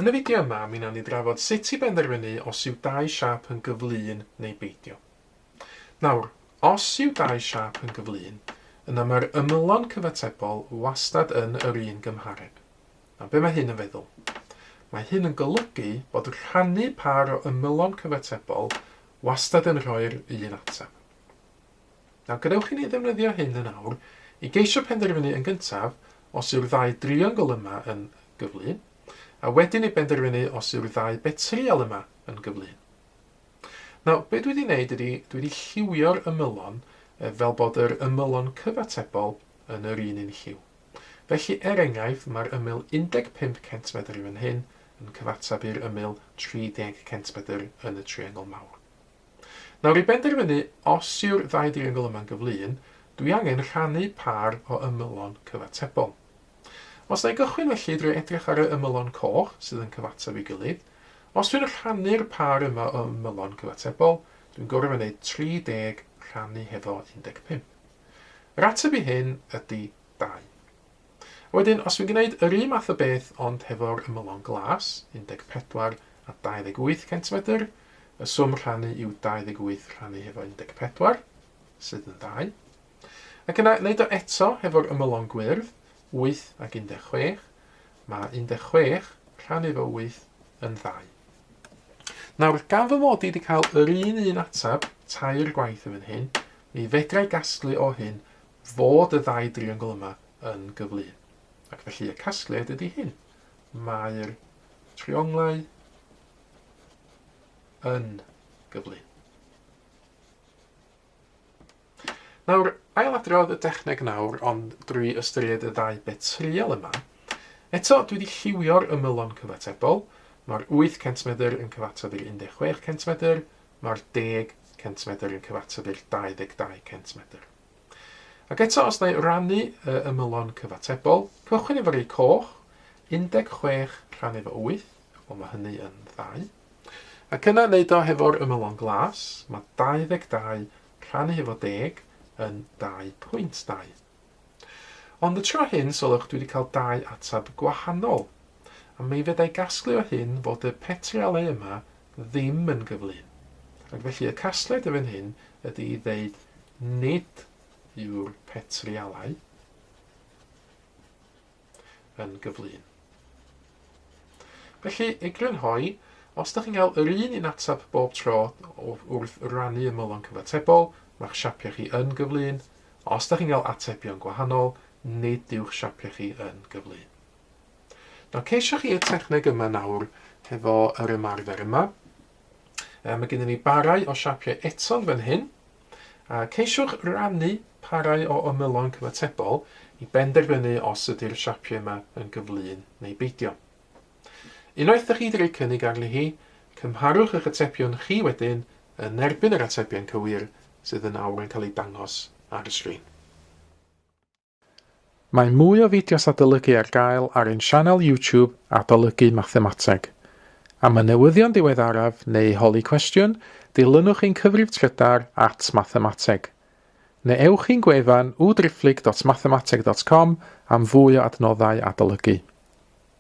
Yn y fideo yma, mi wnawn ni drafod sut i benderfynu os yw dau siâp yn gyflun neu beidio. Nawr, os yw dau siâp yn gyflun, yna mae'r ymylon cyfatebol wastad yn yr un gymhareb. Nawr, be mae hyn yn feddwl? Mae hyn yn golygu bod rhannu pâr o ymylon cyfatebol wastad yn rhoi'r un ateb. A gadewch i ni ddefnyddio hyn yn awr i geisio penderfynu yn gyntaf os yw'r ddau driongl yma yn gyflym, a wedyn i benderfynu os yw'r ddau betrial yma yn gyflym. Nawr, be dwi wedi wneud ydy, dwi wedi lliwio'r ymylon eh, fel bod yr ymylon cyfatebol yn yr un un lliw. Felly, er enghraifft, mae'r ymyl 15 centmedr yn fan hyn yn cyfateb i'r ymyl 30 centmedr yn y triongl mawr. Nawr i benderfynu os yw'r ddau driongl yma'n gyflun, dwi angen rhannu pâr o ymylon cyfatebol. Os na i gychwyn felly drwy edrych ar y ymylon coch sydd yn cyfateb ei gilydd, os dwi'n rhannu'r pâr yma o ymylon cyfatebol, dwi'n gorfod gwneud 30 rhannu hefo 15. Yr ateb i hyn ydy 2. Wedyn, os dwi'n gwneud yr un math o beth ond hefo'r ymylon glas, 14 a 28 centimedr, y swm rhannu yw 28 rhannu hefo 14, sydd yn 2. Ac yna, wneud o eto hefo'r ymylon gwyrdd, 8 ac 16, mae 16 rhannu efo 8 yn 2. Nawr, gan fy mod i wedi cael yr un un atab tair gwaith yn fan hyn, mi fedrai gasglu o hyn fod y ddau driongl yma yn gyfleu. Ac felly y casgliad ydy hyn. Mae'r trionglau yn gyfleu. Nawr, ailadrodd y dechneg nawr, ond drwy ystyried y ddau bit trial yma. Eto, dwi wedi lliwio'r ymylon cyfatebol. Mae'r 8 centimedr yn cyfateb i'r 16 centimedr, mae'r 10 centimedr yn cyfateb i'r 22 centimedr. Ac eto, os na i rannu y ymylon cyfatebol, cychwyn efo rei coch, 16 rhan efo 8, wel mae hynny yn ddau. Ac yna wneud o hefo'r ymylon glas, mae 22 rhannu hefo 10 yn 2.2. Ond y tro hyn, sylwch, dwi wedi cael dau atab gwahanol. a mi feddai gasglu o hyn fod y petrale yma ddim yn gyflym, ac felly y casgliad i fan hyn ydy i ddeud nid yw'r petrialau yn gyflym. Felly, i grynhoi, os da chi'n cael yr un un atab bob tro wrth rannu ymylon cyfatebol, mae'ch siapiau chi yn gyflym. Os da chi'n cael atebion gwahanol, nid yw'ch siapiau chi yn gyflym. Nawr ceisio chi y techneg yma nawr hefo yr ymarfer yma. Um, mae gennym ni barau o siapiau eto fan hyn. A ceisiwch rannu parau o ymylon cyfatebol i benderfynu os ydy'r siapiau yma yn gyflun neu beidio. Unwaith ydych chi wedi rhoi cynnig arni hi, cymharwch eich atebion chi wedyn yn erbyn yr atebion cywir sydd yn awr yn cael eu dangos ar y sgrin. Mae mwy o fideos adolygu ar gael ar ein sianel YouTube Adolygu Mathemateg. Am y newyddion diweddaraf neu holi cwestiwn, dilynwch ein cyfrif trydar at Mathemateg. Neu ewch i'n gwefan www.driphlyg.mathemateg.com am fwy o adnoddau adolygu.